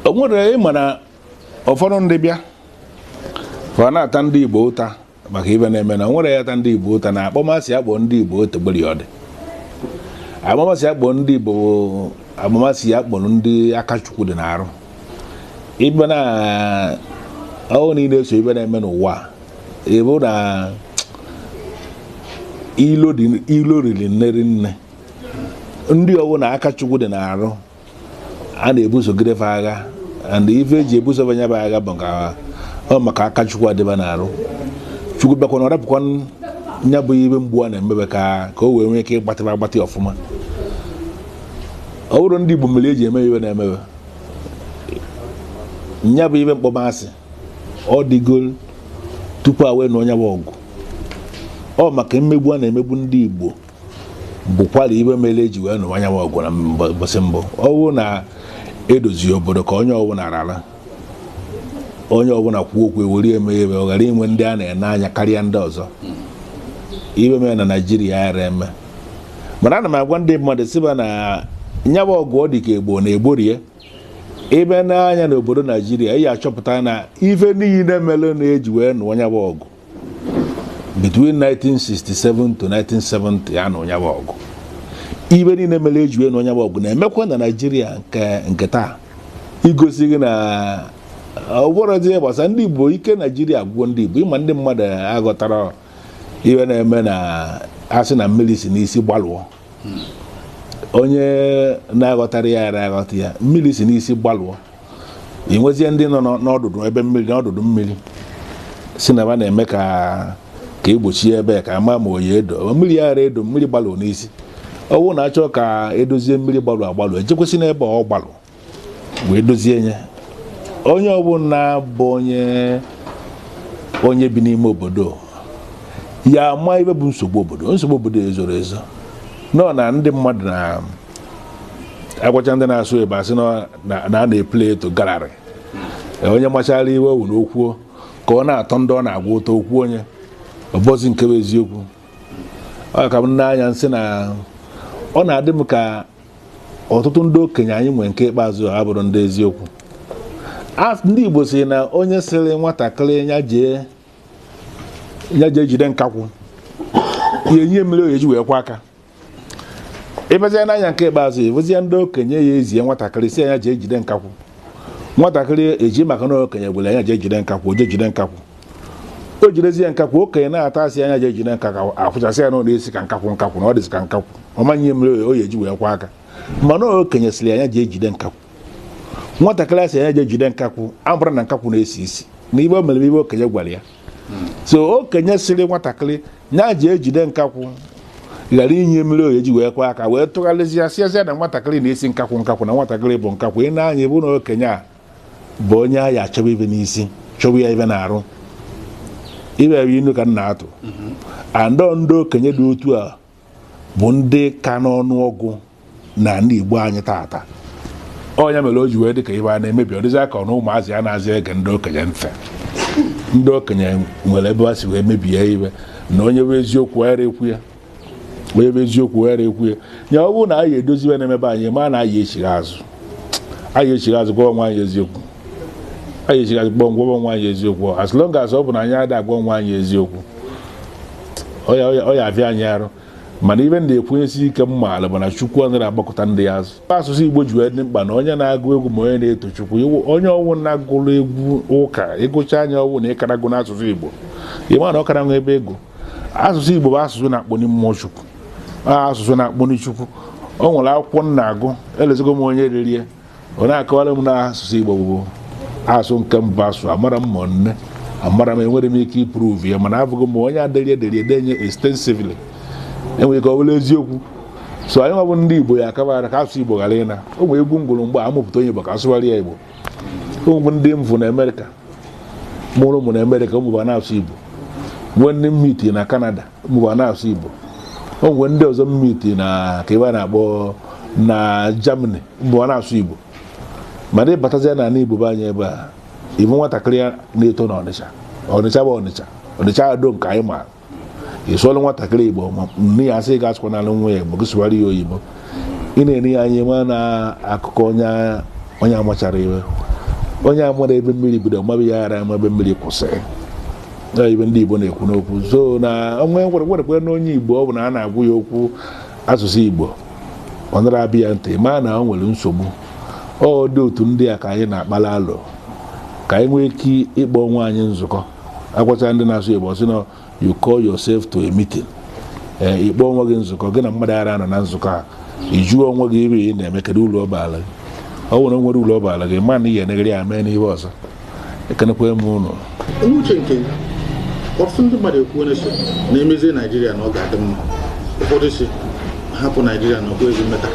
o nwere ịma na ụfọdụ ndị bịa ba na-ata ndị Igbo ụta maka ibe na-eme na nwere ya ta ndị Igbo ụta na akpọmasị a kpọrọ ndị Igbo otegberi ọ dị akpọmasị a kpọ ndị Igbo akpọmasị a kpọrọ ndị aka chukwu dị n'arụ ibe na ọ bụrụ na ị na-eso ibe na-eme n'ụwa ịbụ na ilo riri nne ri nne ndị ọ wụ na aka chukwu dị n'arụ a na-ebusogide fa agha and ife eji ebuso ba nya bụ agha bụ ka ọ maka aka chukwu dị ba n'arụ chukwu bịakwa na ọ rapụkwa nya bụ mmegbu a na-eme ba ka ka o wee nwee ike ịgbatị ba agbatị ọfụma ọ bụrọ ndị Igbo mere eji eme ife na-eme ba nya bụ ibe akpọmasị ọ dịgo tupu a wee nụọ nya bụ ọgụ ọ maka mmegbu a na-emegbu ndị Igbo bụkwara ibe mere eji wee nụwa nyabụ ọgụ na mbọsị mbụ ọ wụ na edozie obodo ka onye ọbụla ra onye ọbụla kwuo okwu ewere eme ebe ọ ghara inwe ndị a na-ene anya karịa ndị ọzọ ibe mere na naijiria ara eme mana ana m agwa ndị mmadụ sị ba na nyabụ ọgụ ọ dị ka egbo na egborie ị bịa nee anya n'obodo naijiria ị achọpụta na ife niile mere eji wee nụọ nyabụ ọgụ between 1967 to 1970 a nụrụ nyabụ ọgụ ibe niile mere eji wee nụọ nyabụ ọgụ na-emekwa na naijiria nke nke taa igosi gị na ọ bụrọzi ihe gbasara ndị igbo ike naijiria agwụ ndị igbo ịma ndị mmadụ aghọtara ife na-eme na asị na mmiri si n'isi gbalụọ onye na-aghọtara ya ara aghọta ya mmiri si n'isi gbalụọ ị nwezie ndị nọ n'ọdụdụ ebe mmiri n'ọdụdụ mmiri sị na ba na-eme ka ka egbochie ebe ka ama ma ọ ya-edo mmiri ya ara edo mmiri gbalụ n'isi ọ bụrụ na achọọ ka edozie mmiri gbalụ agbalụ ejekwasị n'ebe ọ gbalụ wee dozie nya onye ọbụla bụ onye onye bi n'ime obodo ya ama ibe bụ nsogbu obodo nsogbu obodo ezorọ ezo nọ na ndị mmadụ na agwacha ndị na-eso ba asị na a na-eplay to gallery onye machara ife ọ wụ na o kwuo ka ọ na-atọ ndị ọ na-agwa ụtọ o kwuo nya ọ bụrọzi nke bụ eziokwu ọ ka m n'anya nsị na ọ na-adị m ka ọtụtụ ndị okenye anyị nwere nke ikpeazụ ha bụrụ ndị eziokwu ndị Igbo si na onye sịrị nwatakịrị ya jee jide nkakwụ ya enye mmiri ọ ya-eji wee kwọọ aka ịbazie n'anya nke ikpeazụ ewezie ndị okenye ya ezie nwatakịrị sị nya je jide nkakwụ nwatakịrị eji maka na okenye gwara nya je jide nkakwụ o je jide nkakwụ o jidezie nkakwụ okenye na-ata asị nya je jide nkakwụ akwụchasị ya n'ụlọ isi ka nkakwụ nkakwụ na ọ dịzi ka nkakwụ ọ maghị ihe mmiri ọ ya-eji wee kwọọ aka mana okenye sịrị nya je jide nkakwụ nwatakịrị a sị nya je jide nkakwụ abụrụ na nkakwụ na-esi isi na ive o mere ive okenye gwara ya so okenye sịrị nwatakịrị nya je jide nkakwụ ghara inye mmiri ọ ya-eji wee kwọọ aka wee tụgharịzịa siazịa na nwatakịrị na-esi nkakwụ nkakwụ na nwatakịrị bụ nkakwụ ị na-anya bụ na okenye a bụ onye a ya-achọba ive na-esi chọwa ya ive n'arụ ibe ebe inu ka m na-atụ and ndị okenye dị otu a bụ ndị ka n'ọnụọgụ na ndị Igbo anyị taata ọ nya mere o ji wee dị ka ive na-emebi ọ dịzị ka na ụmụazị anazị ege ndị okenye ntị ndị okenye nwere ebe ha si wee mebie ive na onye vụ eziokwu ghara ikwu ya onye vụ eziokwu ghara ikwu ya ya ọ bụrụ na anyị edozi ive na-eme be anyị ma na anyị echighi azụ anyị echighi azụ gwa onwe anyị eziokwu anyị echighi azụ gwa onwe anyị eziokwu as long as ọ bụ na anyị ada agwa onwe anyị eziokwu ọ ya-avịa anyị arụ mana ive ndị ekwenyesi ike m maara bụ na chukwu anaghị agbakụta ndị ya azụ asụsụ igbo ji wee dị mkpa na onye na-agụ egwu ma onye na-eto chukwu onye ọwụna agụrụ egwu ụka ị gụcha nya ọ wụ na ị ka na-agụ n'asụsụ igbo ị ma na ọ kara nwa ebe egwu asụsụ igbo bụ asụsụ na-akpọni mmụọ chukwu asụsụ na-akpọni chukwu o nwere akwụkwọ m na-agụ elozogo m onye dere ya ọ na-akọwara m na asụsụ Igbo bụ asụsụ nke mbụ asụ amara m ma nne amara m enwere m ike iprove ya mana abụghị m onye dere ya dere ya extensively enwere ike ọ bụrụ eziokwu so anyị nwa bụ ndị Igbo ya akabara ka asụsụ Igbo ghara ịna o nwere egwu m gụrụ mgbe a mụpụta onye Igbo ka asụgharị ya Igbo o nwe ndị m vụ na Amerịka mụrụ ụmụ na Amerịka ụmụ va na-asụ Igbo nwee ndị m meeti na Kanada ụmụ va na-asụ Igbo o nwere ndị ọzọ m meeti na ka ive a na-akpọ na Germany ụmụ va na-asụ Igbo mana ị batazie na ala Igbo be anyị ebe a ị vụ nwatakịrị ya na-eto na Ọnịcha Ọnịcha bụ Ọnịcha Ọnịcha ado nke anyị maara ị sụọra nwatakịrị Igbo ma nne ya asị gị asụkwanara nwa ya Igbo gị sụwara ya oyibo ị na-eri ya anyị ma na akụkọ onye onye amachara ive onye amara ebe mmiri bido mabe ya ara ebe mmiri kwụsịrị na ive ndị Igbo na-ekwu n'okwu so na onwe nwerekwe na onye Igbo ọbụna a na-agwa ya okwu asụsụ Igbo ọ nara aba ya ntị ma na ọ nwere nsogbu ọ dị otu ndị a ka anyị na-akpala alụ ka anyị nwee ike ịkpọ onwe anyị nzukọ agwacha ndị na-asụ oyibo sị na you call yourself to a meeting ee ị kpọọ onwe gị nzukọ gị na mmadụ ara nọ na nzukọ a ị jụọ onwe gị ive ị na-eme kedu uru ọ baara gị ọ nwere nwere uru ọ baara gị ma na ị ga-enegharị anya mee n'ihe ọzọ ekenekwa m ụnụ n'uche nke ọtụtụ ndị mmadụ ekwuo sị na emezie naijiria na ọ ga-adị mma ụfọdụ sị hapụ naijiria na okwu ezi mmeta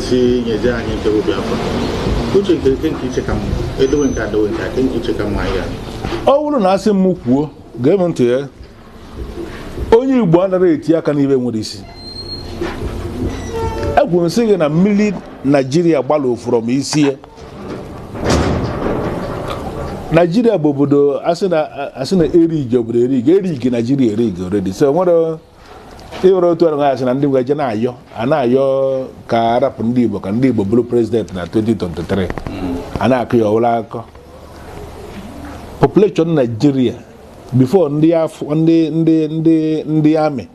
sị nyezie anyị nke biafra uche nke kee nke i che ka mma edowe nke a dowe nke a kee nke i che ka mma ya ọ bụrụ na asị m kwuo gee m ntị ya onye igbo anaghị eti aka n'ibe nwere isi ekwuru m sị gị na mmiri naijiria gbalụ afụrọ m isi ya naijiria bụ obodo asị na erigi obodo erigi erigi naijiria erigi already so nwere ịwere otu ọrụ asị na ndị nweje na-ayọ a na-ayọ ka arapụ ndị igbo ka ndị igbo bụrụ president na 2023 a na-akọ ya ọwụla akụkọ population naijiria before ndị afọ ndị ndị ndị ndị army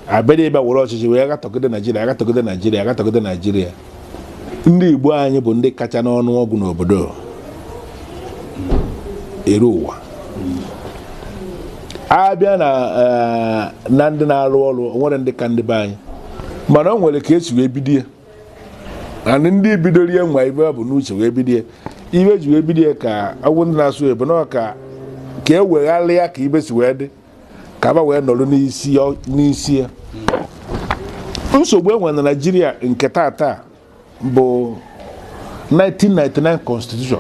abịara ịbịa were ọchịchị wee gatọgide naijiria agatọgide naijiria agatọgide naijiria ndị igbo anyị bụ ndị kacha n'ọnụ ọgụ n'obodo elu ụwa abịa na eh, na ndị na-arụ ọrụ o nwere ndị ka ndị be anyị mana o nwere ka esi wee bido ya and ndị bidoro ya nwe ibe e bu n'uche wee bidie ibe e ji wee bidie ka agwụ ndị na-asụ ebe na ka ka e wegharị ya ka ibe si wee dị ka ba wee nọrọ n'isi ya- n'isi ya nsogbu e nwe na naijiria nke tata bụ 1999 constitution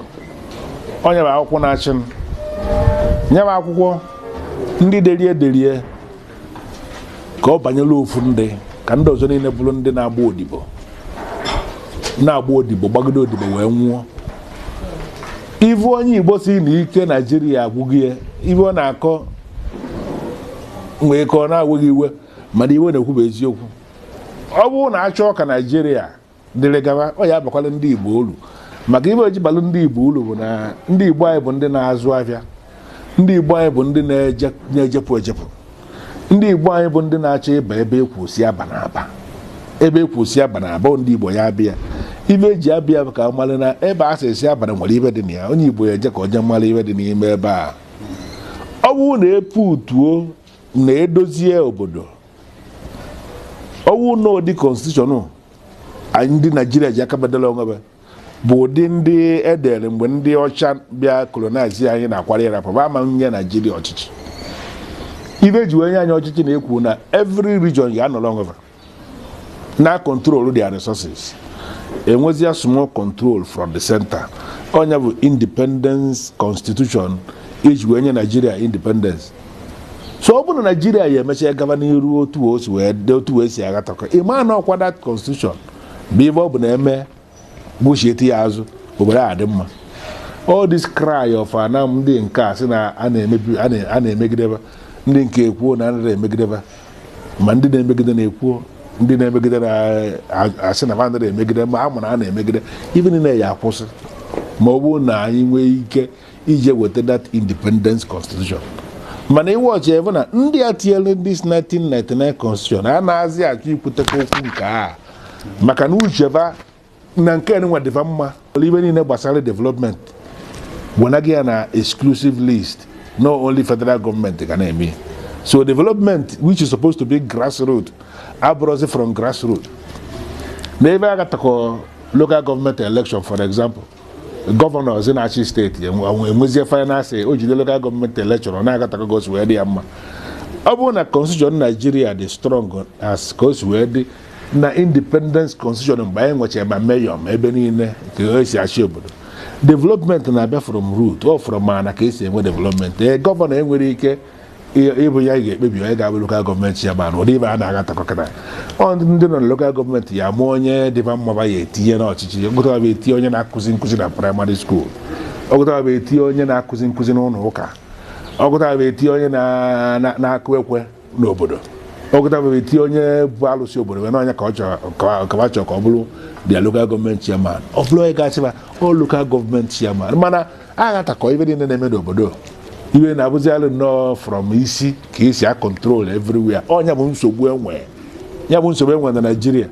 ọ ya bụ akwụkwọ na-achị anyị ya bụ akwụkwọ ndị derie derie ka ọ banyere ofu ndị ka ndị ọzọ niile bụrụ ndị na-agba odibo na-agba odibo gbagide odibo wee nwụọ ị vụ onye igbo sị na ike naijiria agwụghị ya ive ọ na-akọ nwee ike ọ na-ewe gị iwe mana ive a na-ekwu bụ eziokwu ọ bụrụ na achọọ ka naijiria dịrị gawa ọ ya abakwala ndị Igbo uru maka ibe o ji balụ ndị Igbo uru bụ na ndị Igbo anyị bụ ndị na-azụ ahịa ndị Igbo anyị bụ ndị na-ejepụ ejepụ ndị Igbo anyị bụ ndị na-achọ ịba ebe e kwu sị abana aba ebe e kwu sị abana aba ndị Igbo ya abịa ibe eji abịa bụ ka a mara na ebe a sị esi abana nwere ibe dị na ya onye Igbo ya eje ka onye mara ibe dị n'ime ebe a ọ bụrụ na eputuo na edozie obodo ọ wụ na ụdị constitution anyị ndị naijiria ji aka ba dela onwe ba bụ ụdị ndị edere mgbe ndị ọcha bịa colonize anyị na-akwara ya rapụ ama nye naijiria ọchịchị ibe e ji wee nye anyị ọchịchị na-ekwu na every region ya anọrọ onwe ba na control their resources enwezia small control from the center ọ ya bụ independence constitution e ji wee nye naijiria independence so ọ bụrụ na naijiria ya emechaa gaba n'iru otu o si wee dị otu wee si agatakọ ịma na ọkwa that constitution bụ ife ọ bụ na eme buchiete ya azụ obodo a dị mma all this cry of ana ndị nke a sị na a na-emebi a na- a na-emegideba ndị nke a ekwuo na anaghị emegideba ma ndị na-emegide na-ekwuo ndị na-emegide na-asị na anaghị emegide ma a ma na a na-emegide ife niile ya akwụsị ma ọ bụrụ na anyị nwee ike ije weta that independence constitution mana ife ọchị ebe na ndị a tinyere ndị 1999 constitution anazị achọ ikwuteka okwu nke a maka na ucheba na nke nwa dị va mma ife niile gbasara development wenaghị ya na exclusive list na only federal gọọmenti ga na-eme so development which is supposed to be grassroot abụrọzi from grassroot na ebe agatakọ local government election for example gọvanọ zi na-achị steeti enwezie faịnansị o jide lokal gọọmenti elekshọn na-agatakọ ka o si wee dị ya mma ọ bụrụ na constitution naijiria dị strong as ka o si wee dị na independence constitution mgbe anyị nwechara ma mayor ma ebe niile ka esi achị obodo development na-abịa from root ọ fọrọ ma na ka esi enwe development ee gọvanọ enwerọ ike ịbụ ya ga-ekpebi onye ga-abụ lokal gọọmenti ya mana ụdị ife a na-agatakọ kịta ọ ndị nọ na lokal gọọmenti ya ama onye dị va mma va ya etinye n'ọchịchị ogụtara bụ etinye onye na-akụzi nkụzi na praịmarị skuul ọgụtara bụ etinye onye na-akụzi nkụzi n'ụlọ ụka ọgụtara bụ etinye onye na-akụ ekwe n'obodo ọgụtara bụ etinye onye bụ alụsị obodo wee na ọ nya ka ọ chọrọ ka ọ bụrụ their lokal gọọmenti chairman ọ bụrụ onye ga-achị va ọ lokal gọọmenti chairman mana agatakọ ife niile na-eme n'obodo iwe na-abụzialụ nnọọ from isi ka esi a control everywhere ọ nya bụ nsogbu enwe ya bụ nsogbu enwe na naijiria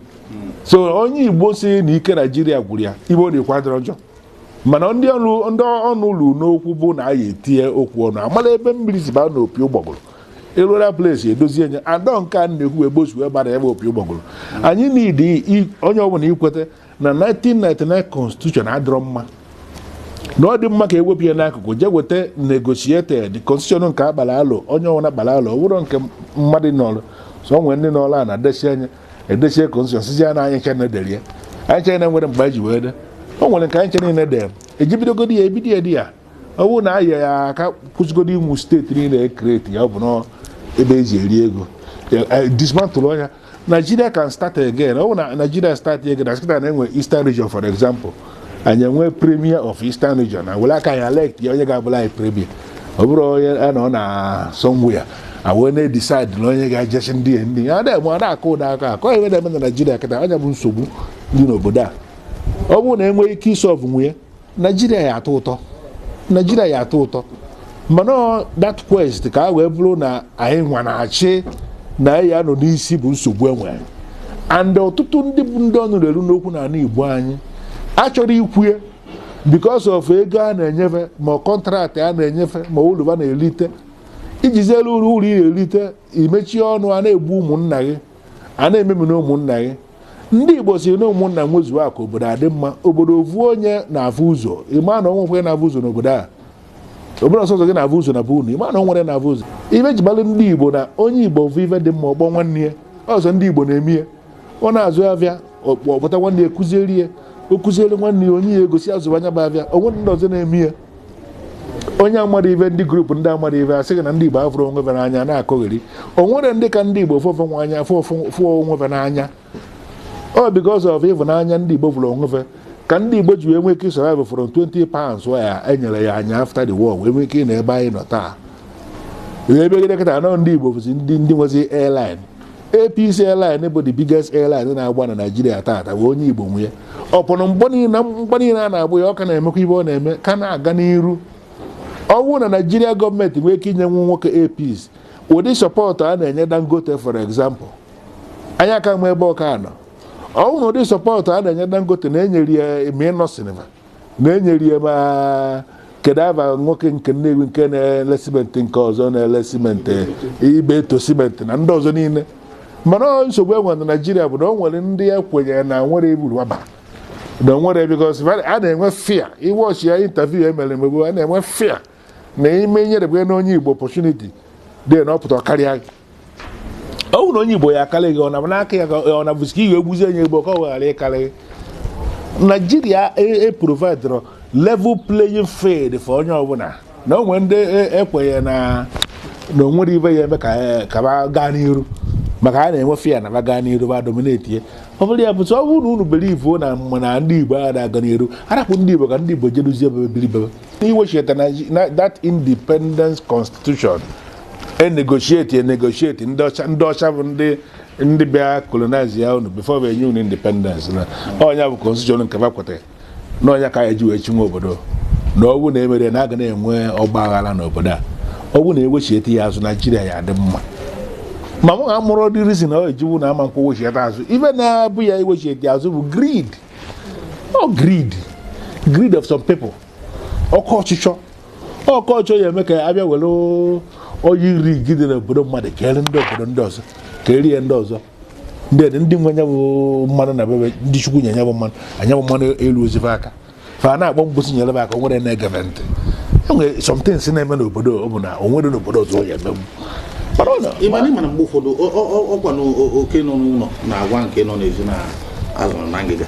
so onye igbo si na ike naijiria gwụrụ ya ife ọ na-ekwu adịrọ njọ mana ndị ọnụ ndị ọnụ lulu n'okwu bụ na anyị etinye okwu ọnụ amala ebe mmiri si baa n'opi ụgbọgụrụ eruola place edozie nya adọ nke a na-ekwu ebe o si wee bara ebe opi ụgbọgụrụ anyị need onye ọbụla ikweta na 1999 constitution adịrọ mma na ọ dị mma ka ewepụ ya n'akụkụ jee weta negotiated constitution nke a gbalụ alo onye ọwụna gbalụ alo ọ bụrọ nke mmadụ nọrọ somewhere ndị n'ọrụ a na-adesi anya edesie constitution sizi ya na anyị ncha dere ya anyị chena nwere mgbe anyị ji wee de o nwere nke anyị ncha niile dere e ji bidogodi ya ebido ya di ya ọ bụrụ na aya ya aka kwụsịgodo ụmụ steeti niile ekreti ya ọ bụ na ebe eji eri ego dismantụlụ ọ nya Nigeria can start again ọ bụ na Nigeria start again na sị kịta na e nwee Eastern region for example anyị enwe premier of Eastern region na were aka anyị elect ya onye ga-abụlụ anyị premier ọ bụrọ onye a nọ na somewhere a wee na-edecide na onye ga-eje chị ndị ya ndị ya na-eme ọ na-akụ ụda aka akọ ihe na-eme na Nigeria kịta ọ nya bụ nsogbu dị n'obodo a ọ bụrụ na enwee ike isọvụ nya naijiria ya atọ ụtọ naijiria ya atọ ụtọ mana that quest ka a wee bụrụ na anyị nwa na-achị na anyị ya-anọ n'isi bụ nsogbu enwere and ọtụtụ ndị bụ ndị ọnụ na-eru n'okwu n'ala igbo anyị achọrọ ikwu e because of ego a na-enye fe ma contract a na-enye fe ma uru ba na-elite i jiziri uru uru ị na-elite i mechie ọnụ a na-egbu ụmụnna gị a na-ememina ụmụnna gị ndị igbo si na ụmụnna nwezuo akụ obodo adị mma obodo ovu onye na-avụ ụzọ ịma na onwe onye na-avụ ụzọ n'obodo a obodo ọ sọọsọ gị na-avụ ụzọ na bụ unu ịma na onwere na-avụ ụzọ ive e ji malụ ndị igbo na onye igbo vụ ife dị mma ọ kpọọ nwanne ya ọ sọ ndị igbo na-eme ya ọ na-azụ avịa ọ kpọta nwanne ya kụziere ya o kụziere nwanne ya onye ya egosi azụ nya bụ avịa onwe ndị ọzọ na-eme ya onye amarọ ive ndị group ndị amarọ ive asị gị na ndị Igbo afụrọ onwe fe n'anya na-akọgheri o nwere ndị ka ndị Igbo fụ fụ n'anya fụ onwe fe n'anya ọ because of ịhụnanya ndị Igbo fụrụ onwe fe ka ndị Igbo ji wee nwee ike survive from 20 pounds a enyere anyị after the war wee nwee ike nọ ebe anyị nọ taa ebe gịdekọta anọ ndị Igbo bụzi ndị ndị nwezi airline Air Peace airline bụ the biggest airline na-agba na Naịjirịa taata bụ onye Igbo nwe e upon mgbọ niile na mgbọ niile a na-agba ya ọ ka na-emekwa ive ọ na-eme ka na-aga n'iru ọ bụrụ na Naịjirịa government nwee ike inye nwa nwoke Air Peace ụdị support a na-enye Dangote for example anyị aka ama ebe ọ ka anọ ọ bụrụ na ụdị support a na-enye Dangote na-enyere ya ma Innoson va na enyere ya ma kedu ava nwoke nke nnewi nke na-ele cement nke ọzọ na-ele cement ibeto cement na ndị ọzọ niile mana ọ nsogbu e nwere na naijiria bụ na o nwere ndị ya kwenyere na nwere iburu waba na o nwere because a na-enwe fear ị watch ya interview emere emegbu a na-enwe fear na ime nyerebe na onye igbo opportunity na ọ pụta karịa gị ọ bụrụ na onye igbo ya akarị gị ọ na n'aka ya ọ na-abụzi ka i wee gbuzie onye igbo ka ọ ghara ịkarị gị naijiria eprovidrọ a level playing field for onye ọbụla na onwe ndị ekwenye e na na onwere ive ya eme ka e, ba gaa n'iru maka a na-enwe fear na ba gaa n'iru ba dominate ya ọ bụrụ ya bụtụ ọ bụrụ na unu bere ivo na mma na ndị igbo aga na-aga n'iru arapụ ndị igbo ka ndị igbo jeruzie ebe biri bebe n'iwechita na that independence constitution enegotiate enegotiate ndị ọcha ndị ọcha bụ ndị ndị bịa colonize ya unu before wee nye unu independence na ọ nya bụ constitution nke fa kwetara na ọ nya ka anyị ji wee chịwa obodo na ọ bụ na emerọ ya na aga na-enwe ọgba aghara n'obodo a ọ bụ na ewechiete ya azụ naijiria ya adị mma ma mụ amarọ the reason na ọ eji wee na ama ekwe wechiete azụ ife na-abụ ya iwechiete azụ bụ greed ọ greed greed of some people oke ọchịchọ ọkọchị ya eme ka abịa were oil rig dị n'obodo mmadụ keere ndị obodo ndị ọzọ ka erie ndị ọzọ ndị dị ndị nwe nya bụ mmanụ na be ba ndị chukwu nye nya bụ mana nya bụ mmanụ elurozi fa aka fa na-akpọ mgbụsị nyere m aka o nwere na-egebe ntị enwere somethings na-eme n'obodo ọ bụ na o nwere n'obodo ọzọ ọ ya emegbu mana ọ na- ịmana ịmana mgbe ụfọdụ ọ- ọ- ọ- ọkwa na o- oke nọ n'ụlọ na agwa nke nọ n'ezi na azụ dị na ngịga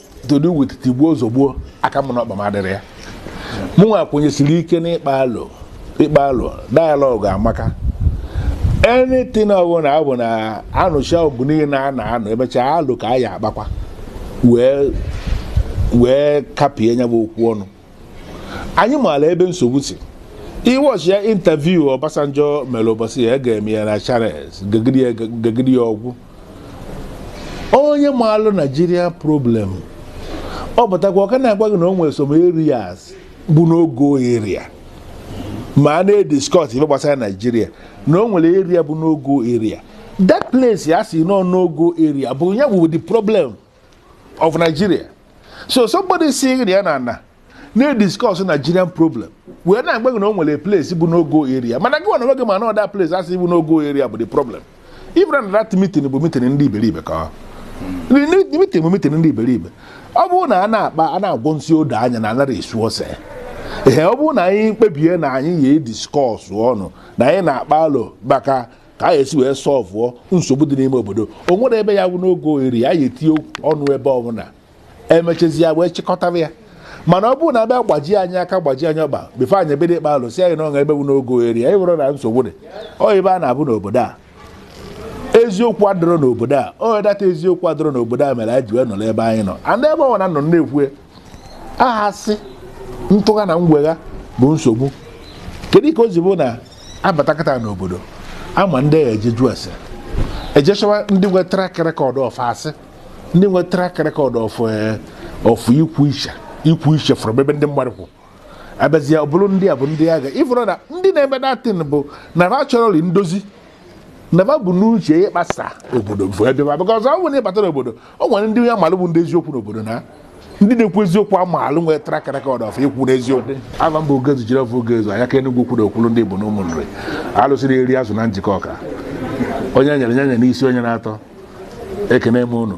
to do with tigbuo zogbuo aka m na ọkpa m adịrọ ya mụnwa kwenyesiri ike n'ịkpa alo ịkpa alo dialogue amaka anything ọbụla ọ bụ na anụcha ọgụ niile a na-anụ emechaa alo ka a ya akpakwa wee wee kapie nya bụ okwu ọnụ anyị maara ebe nsogbu si ị watchie interview Obasanjo mere ụbọchị ya ga-eme ya na Channels gegide ya ọgwụ onye maalụ Nigeria problem ọ pụtakwa ọ ka na-agwa gị na o nwere some areas bụ no-go area ma a na-ediscuss ife gbasara Nigeria na o nwere area bụ no-go area that place a sị na ọ no-go area bụ ya bụ the problem of Nigeria so somebody sị na ya na ana na-ediscuss Nigerian problem wee na-agwa gị na o nwere place bụ no-go area mana gị nwa na gị ma na ọ that place a sị bụ no-go area bụ the problem ị mara na that meeting bụ meeting ndị iberibe that meeting bụ meeting ndị iberibe ọ bụrụ na a na-akpa a na-agwọ nsị odo anya na anarọ esu ose ee ọ bụrụ na anyị kpebie na anyị ya ediscuss ọnụ na anyị na-akpa alo maka ka a esi wee solvuo nsogbu dị n'ime obodo o nwerọ ebe ya abụ no-go area a ya etinye ọnụ ebe ọbụla emechazi ya wee chịkọtara ya mana ọ bụrụ na abịa gbaji anyị aka gbaji anyị ọkpa before anyị ebido ịkpa alo sị anyị na o nwee ebe bụ no-go area anyị were na nsogbu dị ọ ebe a na-abụ n'obodo a eziokwu adịrọ n'obodo a onye that eziokwu adịrọ n'obodo a mere anyị ji wee nọrọ ebe anyị nọ and ebe ọ na nọ na-ekwu aha sị ntụgha na ngwegha bụ nsogbu kedu ka o ji bụ na abatakata n'obodo a ma ndị a ya eje jụọ ese eje chọwa ndị nwe track record of asị ndị nwe track record of of ịkwụ iche ịkwụ iche from ebe ndị mmadụ kwụ abịazie ọ bụrụ ndị a bụ ndị a ga ị fụrụ na ndị na-eme that thing bụ na ba achọrọli ndozi na ba bu n'uche ịkpasa obodo bụ ebe a because ọ bụrụ na ịbata n'obodo o nwere ndị a maalụ bụ ndị eziokwu n'obodo na ndị na-ekwu eziokwu amaalụ nwere track record of ikwu eziokwu ava m bụ ogezu Jideọfọ ogezu anya ka Enugwu Ukwu okwulu ndị bụ na Ụmụnri alụsị na-eri azụ na Njikọka onye nyere nye nye n'isi onye na-atọ ekene m unu